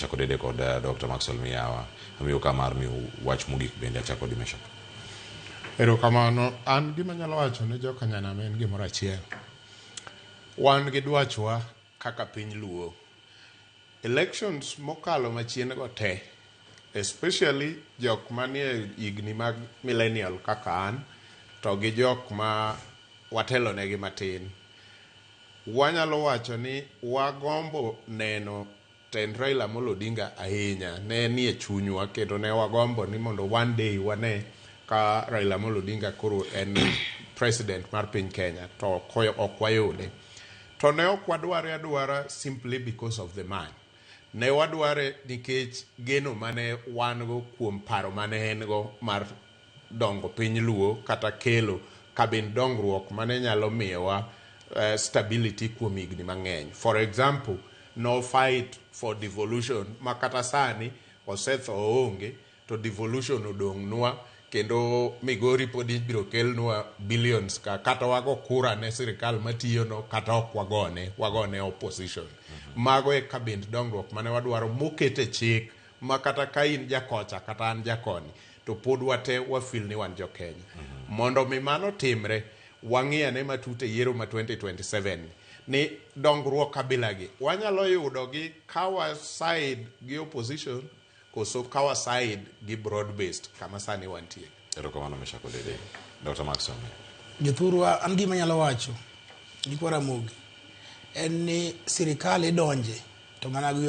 Achako dede kod Dokta Maxwell Miyawa. Amiyo ka mar miyo wach mogik bende achako kod Meshack. Erokamano. An gima anyalo wacho ne joka Nyanam en gimoro achiel. Wan gi dwachwa kaka piny Luo. Elections mokalo machien go te, especially jok manie higni mag millennial kaka an to gi jok ma watelo negi matin, wanyalo wacho ni wagombo neno Tend Raila Amolo Odinga ahinya ne nie chunywa kendo ne wagombo ni mondo one day wane ka Raila Amolo Odinga koro en president mar piny Kenya to ok wayude. To ne ok wadware adwara simply because of the man. Ne wadware nikech geno mane wan go kuom paro mane en go mar dongo piny luo kata kelo kabind dongruok mane nyalo miyowa stability kuom higni mang'eny. For example, no fight for devolution ma kata sani osetho oonge to devolution odong' nwa kendo Migori pod ibiro kelnwa billions ka kata wago kura ne sirkal matiyono kata ok wagone, wagone opposition. Mago e kabind dongruok mane wadwaro moket e chik ma kata ka in ja kocha kata an ja koni, to pod wate wafil ni wan jo-Kenya. Mondo mi mano otimre, wang'i ane matut e yiero ma 2027 ni, ni dongruok kabila gi wanyalo yudo gi ka wa side gi opposition koso ka wa side gi broad based kama sani wantie. Erokamano Meshack Odede. Dr. Mark Some. Jothurwa, an gima anyalo wacho ni kwa Ramogi en ni sirikal idonje to mana gi yo